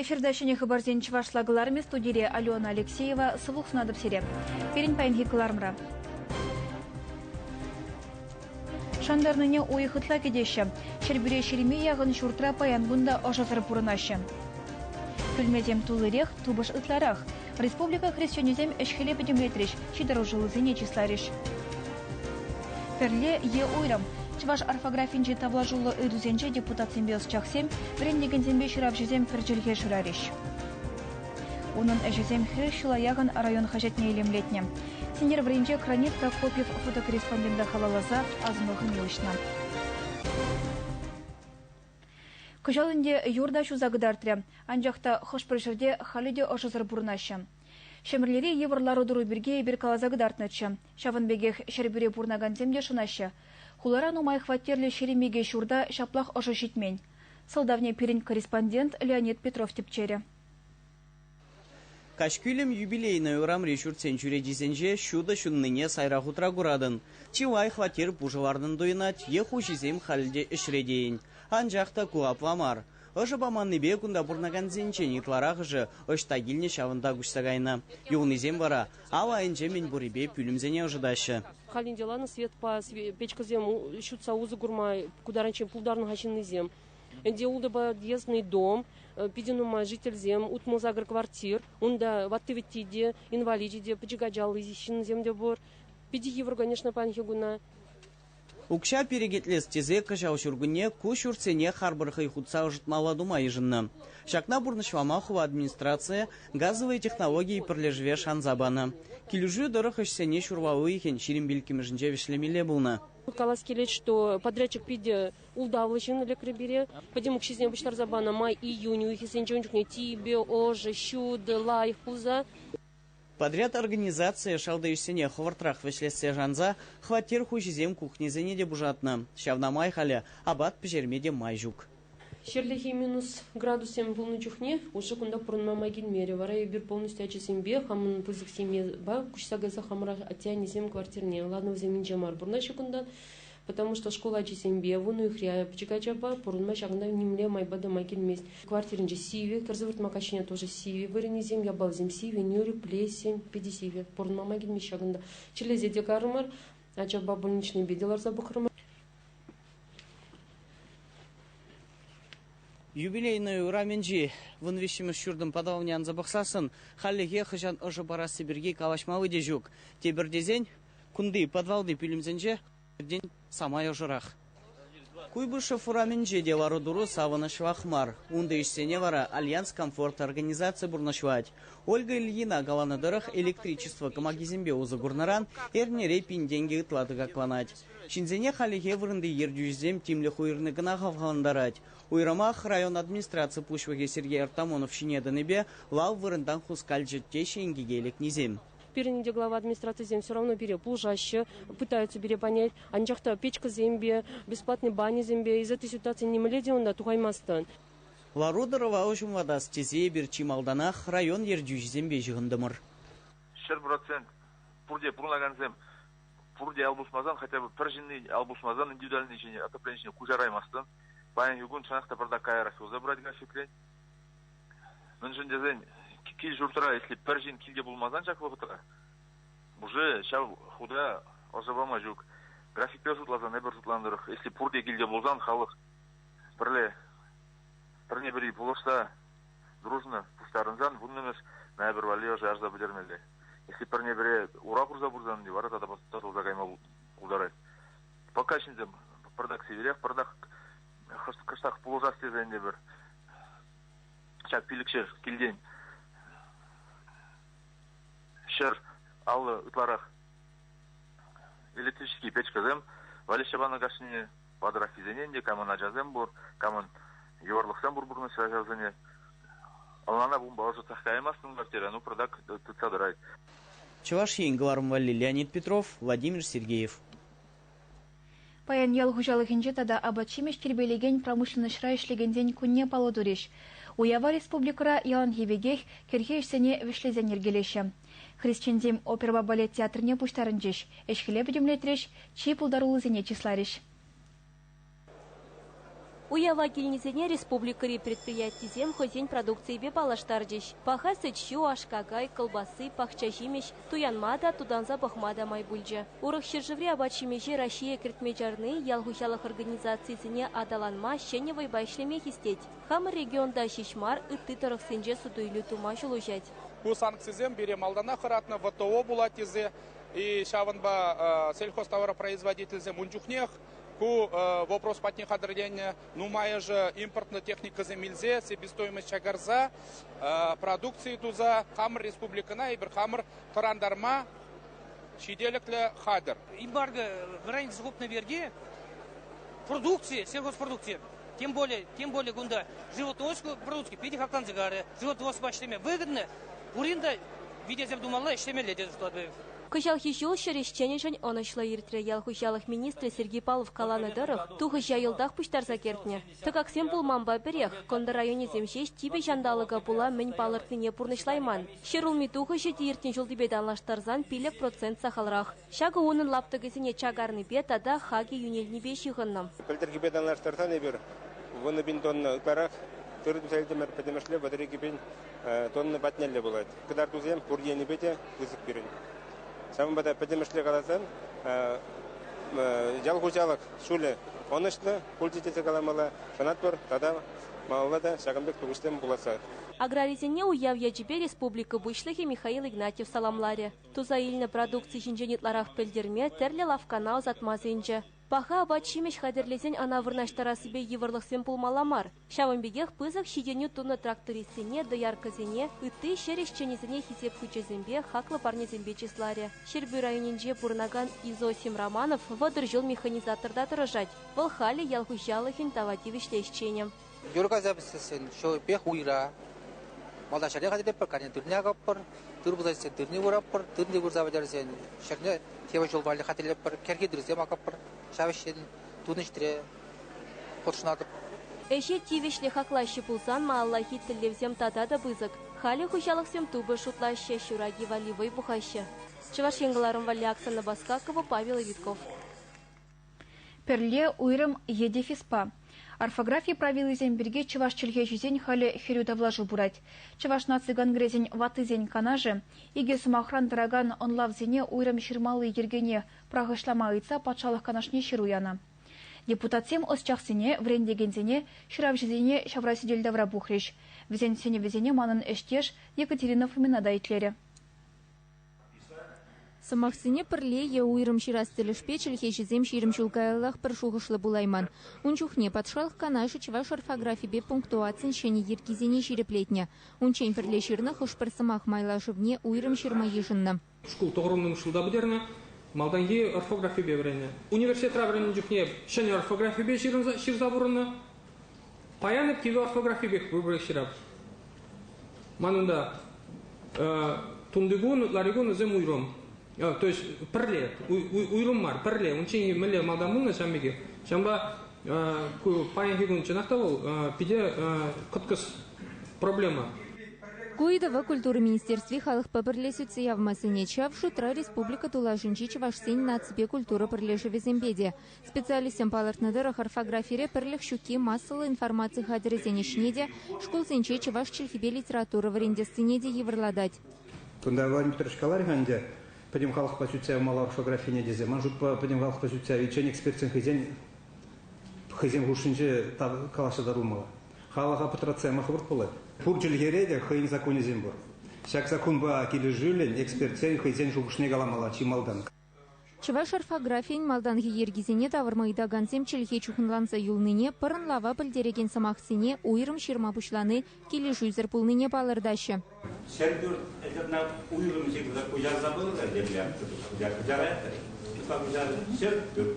Эфирта ҫӗнӗ хыпарсен чӑвашла кӑларӑмӗ студире Алена Алексеева. Сывлӑх сунатӑп сире. Пирӗн паянхи кӑларӑмра. Шантарнине уйӑх ытла кӗтеҫҫӗ. Ҫӗрпӳре ҫирӗме яхӑн ҫуртра паян кун та ӑшӑсӑр пурӑнаҫҫӗ. Пӳлмесем туллирех, тупӑш ытларах. Республика хресченӗсем ӗҫ-хӗле пӗтӗмлетрӗҫ, ҫытӑрушӑллисене чысларӗҫ. Пӗрле е уйрӑм. Чӑваш орфографинчи тавлашуллӑ ыйтусенче депутатсемпе ӑсчахсем, вӗрентекенсемпе ҫыравҫӑсем пӗр чӗлхе шырарӗҫ. Унӑн ӗҫӗсем хирӗҫ ҫула яхӑн район хаҫатне илемлетнӗ. Сентябрьринче «Кранит Прокопьев» фотокорреспондента халалласа асӑну хӑми уҫнӑ. Кӑҫал ӗнтӗ юр та ҫуса кӑтартрӗ, анчах та хӑш-пӗр ҫӗрте халӗ те ӑшӑсӑр пурӑнаҫҫӗ. Ҫӗмӗрлери йывӑр лару-тӑру пирки эпир каласа кӑтартнӑччӗ. Ҫавӑн пекех Ҫӗрпӳре пурӑнакансем те шӑнаҫҫӗ. Хулара нумай хваттерлӗ ҫирӗм икӗ ҫурта ҫаплах ӑшӑ ҫитмен. Сӑлтавне пирӗн корреспондент Леонид Петров тӗпчерӗ. Каҫ кӳлӗм юбилейнӑй урамри ҫуртсен чӳречисенче ҫутӑ ҫуннине сайра хутра куратӑн. Чи лайӑх хваттер пушӑ лартӑн туйӑнать е хуҫисем халь те ӗҫре тейӗн. Анчах та ку апла мар. Ӑшӑ паманнипе кунта пурӑнакансенчен ытларахӑшӗ ӑҫта килнӗ ҫавӑнта куҫса кайнӑ. Юлнисем вара ал айӗнче мӗн пуррипе пӳлӗмсене ӑшӑтаҫҫӗ. Халь ӗнтӗ ланӑ светпа печкӑсем ҫутса усӑ курма пултарнӑ ҫын ҫыннисем. Ӗнтӗ Подъездный дом, питӗ нумай жительсем, утмӑл сакӑр квартир. Унта ватти-вӗтти те, инваличӗ те, пӗчӗк ачаллӑ ҫынсем те пур. Питӗ йывӑр, конечно, паянхи куна. Укҫа перекетлес тесе кӑҫал ҫуркунне ку ҫуртсене харпӑр хӑй хутса ӑшӑтмалла тума йышӑннӑ. Ҫакна пурнӑҫлама хула администрацийӗ газовые технологии пӗрлешӗве шанса панӑ. Килӗшӳ тӑрӑх ӗҫсене ҫурма уйӑхӗн ҫирӗм пиллӗкмӗшӗнче вӗҫлемелле пулнӑ. Калас килет, что подрядчик питӗ ултавлӑ ҫын лекрӗ пире. Пӗтӗм укҫисене пуҫтарса панӑ май июнь уйӑхӗсенче ун чухне типӗ, ӑшӑ, ҫутӑ, лайӑх пулса. Подряд организацийӗ шалти ӗҫсене хӑвӑртрах вӗҫлессе шанса хваттер хуҫисем кухньӑсене те пушатнӑ. Ҫавна май халӗ апат пӗҫерме те май ҫук. Ҫӗрлехи минус градуссем пулнӑ чухне уҫӑ кунта пурӑнма май килмерӗ. Вара эпир полностью ачасемпе, хамӑн пысӑк семьепа куҫса кайса хамӑра атте-аннесем квартирне, ладно, вӗсем инҫе мар, пурӑнаҫҫӗ кунта. Потому что шкул ачисемпе, вун уйӑхри пӗчӗк ачапа пурӑнма ҫакӑнта нимле майпа тӑма килмест. Квартиринче сивӗ, кӗр сывӑртма каҫхине тоже сивӗ. Вырӑнӗсем, япаласем сивӗ, нӳрӗ, плесень, питӗ сивӗ. Пурӑнма килмест ҫакӑнта. Чирлесе те карӑмӑр, ачапа больничнӑйпе те ларса пӑхрӑмӑр. Юбилейнӑй урамӗнчи вун виҫҫӗмӗш ҫуртӑн паталавне анса пӑхсассӑн хальлӗхе хӑҫан ӑшӑ парасси пирки калаҫма вӑй те ҫук. Тепӗр тесен, Кунти, подвалти пӳлӗмсенче пӗртен самай ӑшӑрах. Куйбышев урамӗнче те лару-тӑру савӑнӑҫлах мар. Унти ӗҫсене вара Альянс комфорт организаци пурнӑҫлать. Ольга Ильина каланӑ тӑрӑх, электричество кӑмакисемпе усӑ курнӑран эрнере пин тенкӗ ытла тӑкакланать. Ҫынсене хальлӗхе вырӑнти ертӳҫӗсем тимлӗх уйӑрни кӑна хавхалантарать. Уйрӑмах район администраци пуҫлӑхӗ Сергей Артамонов ҫине тӑнипе лав вырӑнтан хускалчӗ теҫҫӗ инкеке лекнисем. Пирӗн индеглава администрацисем все равно пире пулӑшаҫҫӗ, пытаются пире понять. Анчах та печкӑсемпе, бесплатный баньӑсемпе из этой ситуации нимӗнле те унта тухаймастӑн. Лару-тӑрӑва уҫӑмлатас тесе эпир чи малтанах район ертӳҫисемпе ҫыхӑнтӑмӑр. Ҫӗр процент пурте пурӑнакансем пурте ал пусмасан, хотя бы пӗр ҫынни ал пусмасан индивидуальнӑй ҫине, топлений ҫине куҫараймастӑн. Паянхи кун чӑнах та пӑртак каярах юлса пырать графикрен. Мӗншӗн тесен кил-ҫуртра, если пӗр ҫын килте пулмасан ҫак вӑхӑтра, уже ҫав худа ӑшӑ пама ҫук. Графикпе шутласан эпир шутланӑ тӑрӑх, если пурте килте пулсан халӑх пӗрле пӗрне-пӗри пулӑшса дружно пуҫтарӑнсан вуннӑмӗш ноябрь валли ӑша ярса пӗтермелле. Если пӗрне-пӗре ура хурса пырсан вара тата татӑлса кайма пултарать. Пока ҫынсем пӑртак сивӗрех, пӑртак кӑштах пулӑшас тесен те пӗр ҫак пилӗкҫӗр килтен ҫӗр аллӑ ытларах электрический печкӑсем Валя Щабана кашнине патӑраххисене ӗнтӗ камӑн ачасем пур, камӑн йывӑрлӑхсем пур пурнӑҫра ачасене. Ӑнлана пумпа ӑшӑтсах каймастӑн квартира, ну пратак тытса тӑрать. Чӑваш Ен кӑларӑм валли Леонид Петров, Владимир Сергеев. Паян ял хуҫалӑхӗнче тата апат-ҫимӗҫ тирпейлекен промышленноҫра ӗҫлекенсен кунне паллӑ турӗҫ. Уява республикӑра яланхи пекех кӗрхи ӗҫсене вӗҫлесен йӗркелеҫҫӗ. Хресченсем оперӑпа балет театрне пуҫтарӑнчӗҫ, ӗҫ-хӗле пӗтӗмлетрӗҫ, чи пултаруллисене чысларӗҫ. Уява килнисене республикӑри предприятисем хӑйсен продукцийӗпе паллаштарчӗҫ. Паха сӗт-ҫу, аш-какай, кӑлпасси, пахчаҫимӗҫ, туянма та, тутанса пӑхма та май пулчӗ. Урӑх ҫӗршыври апат-ҫимӗҫе Раҫҫее кӗртме чарни ял хуҫалӑх организацийӗсене аталанма ҫӗнӗ вӑйпа ӗҫлеме хистет. Хамӑр регионта ҫеҫ мар, ытти тӑрӑхсенче суту-илӳ тума ҫул уҫать. Ку санкцисем пире малтанах хӑратнӑ ВТО пулать тесе, ҫавӑнпа сельхозтоваропроизводительсем ун чухнех Ку вопрос патне хатӗрленнӗ нумайӑшӗ импортнӑ техникӑсем илсе себестоимость чакарса продукци туса хамӑр республикӑна эпир хамӑр тӑрантарма ҫителӗклӗ хатӗр. Эмбарго в районе совокупной верги продукции, сельхозпродукции, тем более, тем более кунта животное продукции питӗ хакланса карӗ, животное воспа ӗҫлеме выгодно, пурин та витесем тумалла, ӗҫлемелле тесе шутлатпӑр. Кӑҫалхи ҫул ҫӗр ӗҫченӗшӗн ӑнӑҫлӑ иртрӗ. Ял хуҫалӑх министрӗ Сергей Палов каланӑ тӑрӑх, тухӑҫа йӑлтах пуҫтарса кӗртнӗ. Тӑкаксем пулманпа пӗрех. Кӑнтӑр районӗсем ҫеҫ типӗ ҫанталӑка пула мӗн палӑртнине пурнӑҫлайман. Ҫӗр улми тухӑҫӗ те иртнӗ ҫултипе танлаштарсан пилӗк процент сахалрах. Ҫакӑ унӑн лаптӑкӗсене чакарнипе тата хакӗ йӳнелнипе ҫыхӑннӑ. Пӗлтӗрхипе танлаштарсан эпир вунӑ пин тонна ытларах тырӑ туса илтӗмӗр. Пӗтӗмӗшле вӑтӑр икӗ пин тонна патнелле пулать. Кӑтартусем пур енӗпе те пысӑк пирӗн. Ҫавӑнпа та пӗтӗмӗшле каласан ял хуҫалӑх ҫулӗ ӑнӑҫлӑ пулчӗ тесе каламалла, шанатпӑр тата малалла та ҫакӑн пек тухӑҫсем пуласса. Аграрисене уяв ячӗпе республика Пуҫлӑхӗ Михаил Игнатьев саламларӗ. Туса илнӗ продукци ҫинчен ытларах пӗлтерме тӗрлӗ лавккана ӑсатма сӗнчӗ. Паха апат-ҫимӗҫ хатӗрлесен ӑна вырнаҫтарассипе йывӑрлӑхсем пулмалла мар. Ҫавӑн пекех пысӑк ҫитӗнӳ тунӑ трактористсене, дояркӑсене, ытти ҫӗр ӗҫченӗсене хисеп хучӗсемпе, хаклӑ парнесемпе чысларӗ. Ҫӗрпӳ районӗнче пурӑнакан Изосим Романов вӑтӑр ҫул механизаторта тӑрӑшать. Вӑл халӗ ял хуҫалӑхӗн тава тивӗҫлӗ ӗҫченӗ. Юр кайса пӗссессӗн ҫӑвӗпех уйра. Малтан ҫӗрне хатӗрлетпӗр, каня тырне акӑппӑр, тыр пулса ӳссе тырне выратпӑр, тырне вырса пӗтерсен ҫӗрне тепӗр ҫул валли хатӗрлетпӗр, кӗрхи тырсем акӑппӑр. Ҫав ӗҫрен тунӑ ӗҫре хутшӑнатӑп. Ӗҫе тивӗҫлӗ хаклаҫҫӗ пулсан малаллахи тӗллевсем тата та пысӑк. Халӗ хуҫалӑхсем тупӑш шутлаҫҫӗ, ҫур аки валли вӑй пухаҫҫӗ. Чӑваш Ен кӑларӑм валли аксанна Баскакова, Павел Витков. Пӗрле уйрӑм е дефиспа. Орфографи правилисем пирки чӑваш чӗлхеҫисен халӗ хӗрӳ тавлашу пырать. Чӑваш наци конгресӗн ваттисен канашӗ икӗ сӑмахран тӑракан ӑнлавсене уйрӑм ҫырмалли йӗркене пӑрахӑҫлама ыйтса патшалӑх канашне ҫыру янӑ. Депутатсем ӑсчахсене, вӗрентекенсене, ҫыравҫӑсене ҫавра сӗтел тавра пухрӗҫ. Вӗсен сӗнӗвӗсене манӑн ӗҫтеш Екатерина Фомина та итлерӗ. Сӑмахсене пӗрле е уйрӑм ҫырас тӗлӗшпе чӗлхеҫӗсем ҫирӗм ҫул каяллах пӗр шухӑшлӑ пулайман. Ун чухне патшалӑх канашӗ чӑваш орфографипе пунктуацин ҫӗнӗ йӗркисене ҫирӗплетнӗ. Унччен пӗрле ҫырнӑ хӑш-пӗр сӑмах майлашӑвне уйрӑм ҫырма йышӑннӑ. Шкул тӑхӑрӑмлӑн шкулта пӗтернӗ, малтанхи орфографипе вӗреннӗ. Университетра вӗреннӗ чухне ҫӗнӗ орфографипе ҫырӑнса пурӑннӑ. Паян кивӗ орфографи пек выбросчӗ. Ман унта тунтикун, ларикун вӗсем уйрӑм. То есть пӗрле, уйрӑм мар, пӗрле. Унччен мӗнле малтан пулнӑ ҫам пекех. Ҫавӑнпа ку паянхи кун чӑнах та вӑл питӗ кӑткӑс проблема. Ку ыйтӑва культура министерстви халӑхпа пӗрле сӳтсе явма сӗнет. Ҫав шутра республика тулашӗнчи чӑвашсен наципе культура пӗрлешӗвӗсемпе те. Специалистсем палӑртнӑ тӑрӑх, орфографире пӗрлӗх ҫукки массӑллӑ информаци хатӗрӗсен ӗҫне те, шкулсенче чӑваш чӗлхипе литература вӗрентессине те йывӑрлатать. Кунта Владимир каларӗ-ха ӗнтӗ, пӗтӗм халӑхпа сӳтсе явмалла орфографине тесе. Ман шутпа, пӗтӗм халӑхпа сӳтсе явиччен экспертсен хӑйсен хӑйсен хушшинче калаҫса татӑлмалла. Халӑха пӑтратса яма хӑвӑрт пулать. Пур чӗлхере те хӑйӗн законӗсем пур. Ҫак саккунпа килӗшӳллӗн экспертсен хӑйсен шухӑшне каламалла чи малтан. Чӑваш орфографийӗн малтанхи йӗркисене тавӑрма ыйтакансем чӗлхе чухӑнланса юлнине, пӑрӑнлава пӗлтерекен сӑмахсене уйрӑм ҫырма пуҫлани килӗшӳсӗр пулнине палӑртаҫҫӗ. Ҫӗрпӳрт это уйрӑм ҫырса куҫарса пынӑ тӗрлем. Куҫараятӑр. Туха куҫарать. Ҫӗрпӳрт.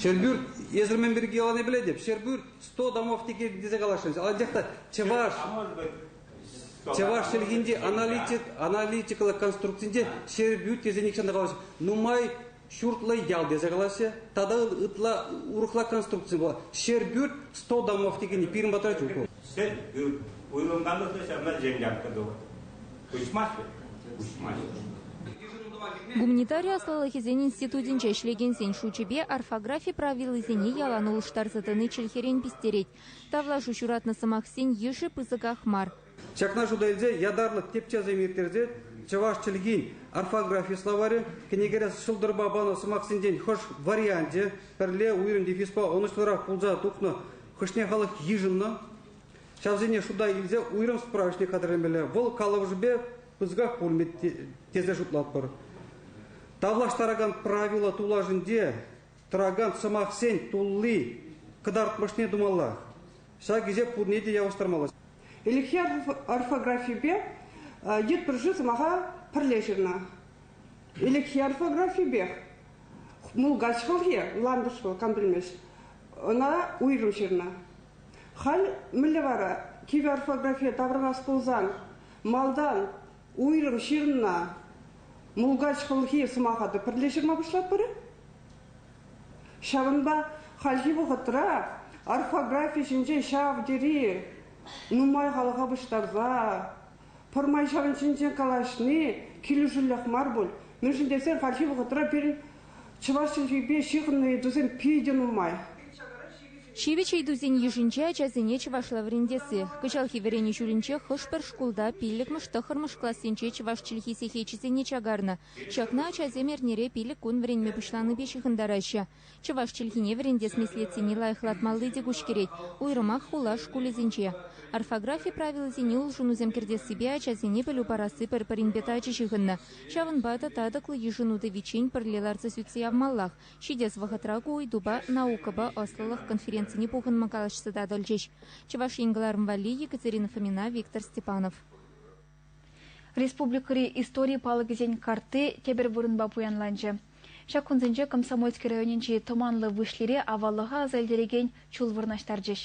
Ҫӗрпӳрт, эсир мӗн пирки калани пӗлетӗп. Ҫӗрпӳрт 100 домов текех тесе каласшӑнсыз. Анчах та чӑваш... А может быть, Чӑваш чӗлхинчи аналитик, аналитикӑлла конструкцинче Ҫӗрпӳ тесе нихҫан та калаҫ нумай ҫуртлӑ ял тесе калаҫҫӗ. Тата ытла урӑхла конструкци пулать. Ҫӗрпӳ 100 домов текенни пирӗн патра ҫук вӑл. Ҫӗрпӳ уйрӑлманлӑхне ҫавна яткан тӑвӑр. Куҫмаҫҫӗ? Куҫмаҫҫӗ. Гуманитари ӑслӑлӑхӗсен институтӗнче ӗҫлекенсен шучӗпе орфографи правилисене ялан улӑштарса тӑни чӗлхерен пистерет. Тавлашу ҫуратнӑ сӑмахсен йышӗ пысӑках мар. Ҫакна шута илсе ятарлӑ тӗпчевсем ирттерсе чӑваш чӗлхин орфографи словарӗ, кӗнекере ҫӑлтӑрпа панӑ сӑмахсенчен хӑш варианчӗ пӗрле уйрӑм дефиспа ӑнӑҫлӑрах пулса тухнӑ, хӑшне халӑх йышӑннӑ, ҫавсене шута илсе уйрӑм справочник хатӗрлемелле. Вӑл калӑпӑшӗпе пысӑках пулмӗ тесе шутлатпӑр. Тавлаштаракан правило тулашӗнче Тӑракан сӑмахсен тулли кӑтартмӑшне тумалла. Ҫак ӗҫе пурне те явӑҫтармалла. Ӗлӗкхи орфографипе йытпӑрҫи сӑмаха пӗрле ҫырнӑ. Ӗлӗкхи орфографипех мулкач хӑлхи, ландыш вӑл, кам пӗлмест, ӑна уйрӑм ҫырнӑ. Халь мӗнле вара кивӗ орфографие таврӑнас пулсан, малтан уйрӑм ҫынна мулкач хӑлхи сӑмаха та пӗрле ҫырма пуҫлатпӑр-и? Ҫавӑнпа хальхи вӑхӑтра орфографи ҫинчен ҫав тери нумай халӑха пуҫтарса, пӗрмай ҫавӑн ҫинчен калаҫни килӗшӳллех мар пуль. Мӗншӗн тесен хальхи вӑхӑтра пирӗн чӑваш чӗлхипе ҫыхӑннӑ ыйтусем питӗ нумай. Ҫивӗч ыйтусен йышӗнче ачасене чӑвашла вӗрентесси. Кӑҫалхи вӗренӳ ҫулӗнче хӑш-пӗр шкулта пиллӗкмӗш тӑххӑрмӗш классенче чӑваш чӗлхи сехечӗсене чакарнӑ. Ҫакна ачасем эрнере пилӗк кун вӗренме пуҫланипе ҫыхӑнтараҫҫӗ. Чӑваш чӗлхине вӗрентес меслетсене лайӑхлатмалли те куҫкӗрет, уйрӑмах хула шкулӗсенче. Орфографи правилисене улшӑнусем кӗртессипе ачасене пӗлӳ парасси пӗр-пӗринпе тачӑ ҫыхӑннӑ. Ҫавӑнпа та татӑклӑ йышӑну тӑвиччен пӗрле ларса сӳтсе явмаллах, Ҫитес вӑхӑтра ку ыйтупа наукӑпа ӑслӑлӑх конференцине пухӑнма калаҫса татӑлчӗҫ Чӑваш Ен кӑларӑм валли Екатерина Фомина, Виктор Степанов. Республикӑри истори палӑкӗсен картти тепӗр вырӑнпа пуянланчӗ. Ҫак кунсенче Комсомольски районӗнчи Тӑманлӑ Выҫлире аваллӑха аса илтерекен ҫул вырнаҫтарчӗҫ.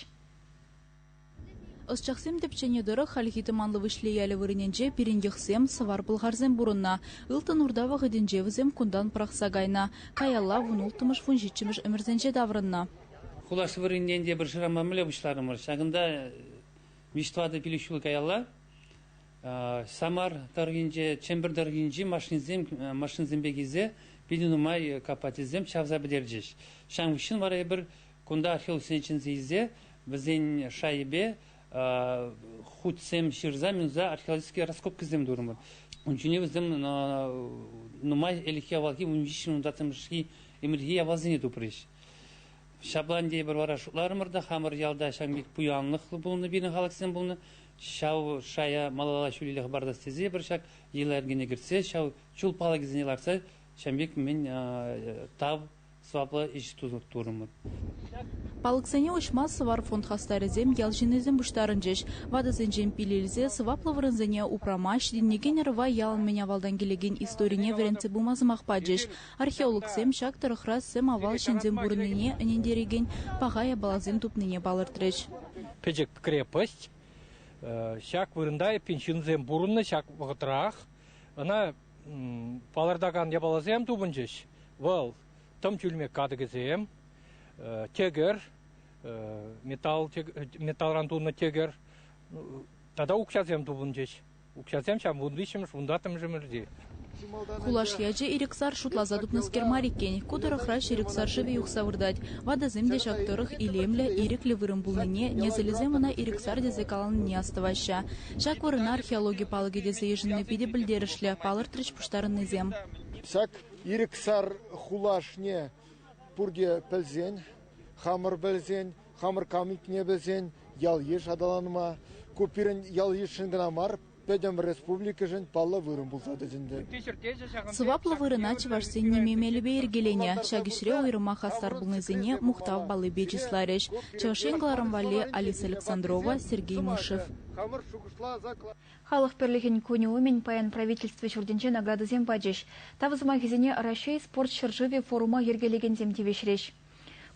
Ӑсчахсем тӗпченӗ тӑрӑх, хальхи Тӑманлӑ Выҫли ялӗ вырӑнӗнче пирӗнйӑхсем, сӑвар-пӑлхарсем пурӑннӑ. Ылтӑн Урта вӑхӑтӗнче вӗсем кунтан пӑрахса кайнӑ, каялла вун-улттӑмӗш-вунҫиччӗмӗш ӗмӗрсенче таврӑннӑ. Хулаш вырӑнӗнчен те пӗр ҫырама мӗнле пуҫларӑмӑр, ҫакӑнта виҫ-тӑватӑ пилӗк ҫул каялла Самар тӑрӑхӗнче, Чӗмпӗр тӑрӑхӗнчи машинӑсемпе килсе питӗ нумай копательсем чавса пӗтерчӗҫ. Ҫавӑн хыҫҫӑн вара эпир Кунта хӗвелсене чӗнсе илсе вӗсен шайӗпе хутсем ҫырса минса археологические раскопкӑсем турӑмӑр. Ун ҫине вӗсем нумай ӗлӗкхи авалхи ун виҫҫӗмӗш унтаттӑмӗшхи ӗмӗрхи явалсене тупрӗҫ. Ҫапла ӗнтӗ эпир вара шутларӑмӑр та хамӑр ялта ҫавӑн пек пуянлӑхлӑ пулнӑ пирӗн халӑхсем пулнӑ. Ҫав шая малалла ҫӳлелле хӑпартас тесе эпир ҫак йӑла йӗркене кӗртсе ҫав чул палӑкӗсене лартса ҫавӑн пек мӗн тав Саплӑ ӗҫ турӑмӑр. Палӑксене уҫма Сӑвар фонд хастарӗсем ял ҫыннисем пуҫтарӑнчӗҫ. Ватӑсенчен пил илсе сӑваплӑ вырӑнсене упрама, ҫитӗнекен ӑрӑва ялӑн мӗн авалтан килекен историне вӗрентсе пыма сӑмах пачӗҫ. Археологсем ҫак тӑрӑхра сӗм-авал ҫынсем пурӑннине, ӗнентерекен паха япаласем тупнине палӑртрӗҫ. Пӗчӗк крепость. Ҫак вырӑнта эппин ҫынсем пурӑннӑ ҫак вӑхӑтрах. Ӑна Палӑртакан япаласем тупӑнчӗҫ. Вӑл тӑм чӳлмек катӑкӗсем, тӗкӗр, металл, металлран тунӑ тӗкӗр тата укҫасем тупӑнчӗҫ. Укҫасем ҫав вун виҫҫӗмӗш, вун таттӑмӗшӗмӗрти. Кулаш ячӗ ирӗксар шутласа тупнӑскер мар иккен. Ку тӑрӑхра ҫирӗксар шывӗ юхса выртать. Ватӑсем те ҫак тӑрӑх илемлӗ, ирӗклӗ вырӑн пулнине, несӗлӗсем ӑна ирӗксар тесе каланине астӑваҫҫӗ. Ҫак вырӑна археологи палӑкӗ тесе йышӑнни питӗ пӗлтерӗшлӗ, палӑртрӗҫ пуҫтарӑннисем. Ҫак ирӗк сар хулашне пурте пӗлсен, хамӑр пӗлсен, хамӑр камикне пӗлсен ял-йыш аталанма, ку пирӗн ял-йышшӑн кӑна мар, пӗтӗм республикӑшӑн паллӑ вырӑн пулса тӑчӗ ӗнтӗ. Сӑваплӑ вырӑна чӑвашсен ниме мелӗпе йӗркеленӗ. Ҫак ӗҫре уйрӑмах хастар пулнисене мухтав паллипе чысларӗҫ Чӑваш Ен кӑларӑм валли Алиса Александрова, Сергей Мышев. хамӑр шухӑшласа Халӑх пӗрлӗхӗн кунӗ умӗн паян Правительство ҫуртӗнче наградӑсем пачӗҫ. Тав сӑмахӗсене Раҫҫей спорт ҫӗршывӗ форума йӗркелекенсем тивӗҫрӗҫ.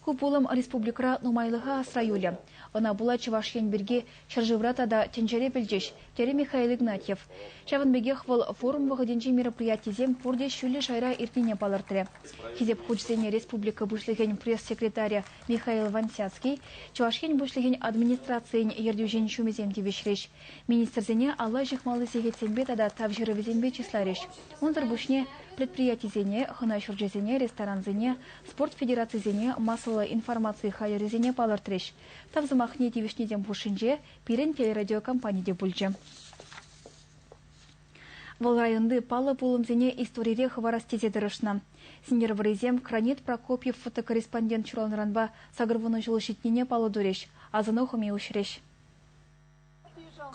Ку пулӑм республикӑра нумайлӑха асра юлӗ. Ӑна пула Чӑваш Ен пирки ҫӗршывра тата тӗнчере пӗлчӗҫ, терӗ Михаил Игнатьев. Ҫавӑн пекех вӑл форум вӑхӑтӗнчи мероприятисем пурте ҫӳллӗ шайра иртнине палӑртрӗ. Хисеп хучӗсене республика Пуҫлӑхӗн пресс-секретарӗ Михаил Вансяцкий, Чӑваш Ен Пуҫлӑхӗн администрацийӗн ертӳҫин ҫумӗсем тивӗҫрӗҫ, министрсене алла ҫыхмалли сехетсемпе тата тавҫӑрӑвӗсемпе чысларӗҫ. Унсӑр пуҫне предприятисене, хӑна ҫурчӗсене, ресторансене, спорт федерацисене массӑллӑ информаци хатӗрӗсене палӑртрӗҫ. Тав сӑмахне тивӗҫнисем хушшинче пирӗн телерадиокомпани те пулчӗ. Вӑл районти паллӑ пулӑмсене историре хӑварас тесе тӑрӑшнӑ. Сӗнтӗрвӑррисем Кранит Прокопьев фотокорреспондент ҫуралнӑранпа сакӑр вунӑ ҫул ҫитнине паллӑ турӗҫ, асӑну хӑми уҫрӗҫ.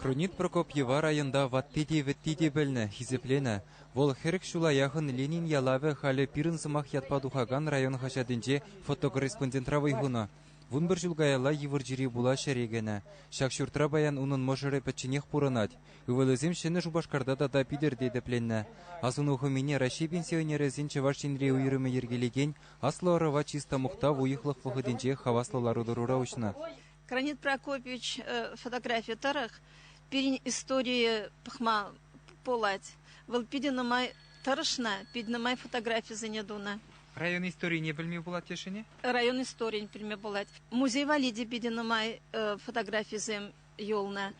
Кронит Прокопьева районта ватти те вӗтти те пӗлнӗ, хисепленӗ. Вӑл хӗрӗх ҫула яхӑн Ленин ялавӗ халӗ пирӗн сӑмах ятпа тухакан район хаҫатӗнче фотокорреспондентра вӑй хунӑ. Вун пӗр ҫул каялла йывӑр чире пула ҫӗре кӗнӗ. Ҫак ҫуртра паян унӑн мӑшӑрӗ пӗчченех пурӑнать. Ывӑлӗсем Ҫӗнӗ Шупашкарта тата Питӗрте тӗпленнӗ. Асӑну хӑмине Раҫҫей пенсионерӗсен Чӑваш Енри уйрӑмӗ йӗркелекен аслӑ ӑрӑва чыста мухтав уйӑхлӑх вӑхӑтӗнче хаваслӑ лару-тӑрура уҫнӑ. Гранит Прокопьевич фотографийӗ тӑрӑх пирӗн историе пӑхма пулать. Вӑл питӗ нумай тӑрӑшнӑ, питӗ нумай фотографисене тунӑ. Район историне пӗлме пулать тесшӗн-и? Район историйӗн пӗлме пулать. Музей валли те питӗ нумай фотографисем юлнӑ.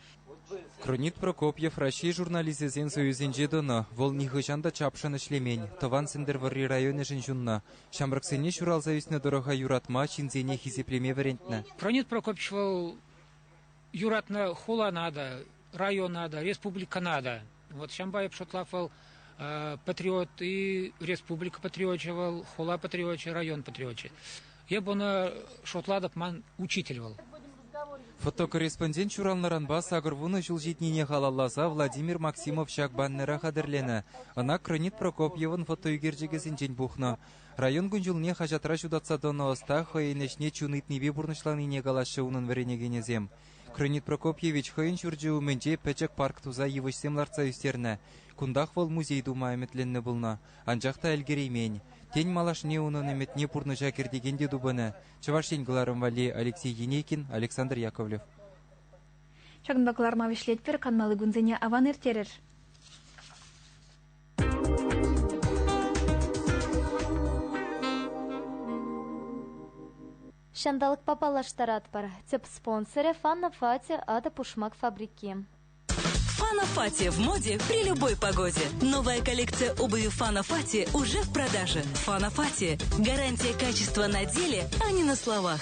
Кронид Прокопьев Раҫҫей журналисчӗсен союзӗнче тӑнӑ. Вӑл нихӑҫан та чапшӑн ӗҫлемен, тӑван Сӗнтӗрвӑрри районӗшӗн ҫуннӑ. Ҫамрӑксене ҫуралса ӳснӗ тӑрӑха юратма, ҫынсене хисеплеме вӗрентнӗ. Кронид Прокопьевич вӑл юратнӑ хулана та, района та, республикӑна та Вот ҫампа эп шутлав вӑл патриот-и, республика патриочӗ вӑл, хула патриочӗ, район патриочӗ. Эп ӑна шутлатӑп, ман учитель вӑл. Фотокорреспондент ҫуралнӑранпа сакӑр вунӑ ҫул ҫитнине халалласа Владимир Максимов ҫак баннера хатӗрленӗ. Ӑна Кронит Прокопьевӑн фотоӳкерчӗкӗсенчен пухнӑ. Район кун-ҫулне хаҫатра ҫутатса тӑнӑ ӑста хӑйӗн ӗҫне чун ыйтнипе пурнӑҫланине калаҫҫӗ унӑн вӗренекенӗсем. Кронит Прокопьевич хӑйӗн ҫурчӗ умӗнче пӗчӗк парк туса йывӑҫсем лартса ӳстернӗ. Кунтах вӑл музей тума ӗмӗтленнӗ пулнӑ, анчах та ӗлкӗреймен. Тен, малашне унӑн ӗмӗтне пурнӑҫа кӗртекен те тупӑнӗ, Чӑваш Ен кӑларӑм валли Алексей Енейкин, Александр Яковлев. Ҫакӑнпа кӑларӑма вӗҫлетпӗр, канмалли кунсене аван ирттерӗр. Ҫанталӑкпа паллаштаратпӑр, тӗп спонсорӗ Фанна Фати атӑ-пушмак фабрики. Фана Фати в моде при любой погоде. Новая коллекция обуви Фана Фати уже в продаже. Фана Фати. Гарантия качества на деле, а не на словах.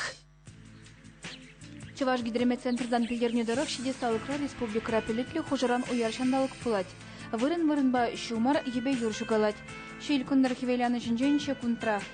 Чӑваш гидрометцентртан пӗлтернӗ тӑрӑх ҫитес талӑкра республикӑра пӗлӗтлӗ хушӑран уяр ҫанталӑк пулать. Вырӑн-вырӑнпа ҫумӑр, йӗпе юр ҫукалать. Ҫил кӑнтӑр хӗвеланӑ ҫинчен ҫеккунтра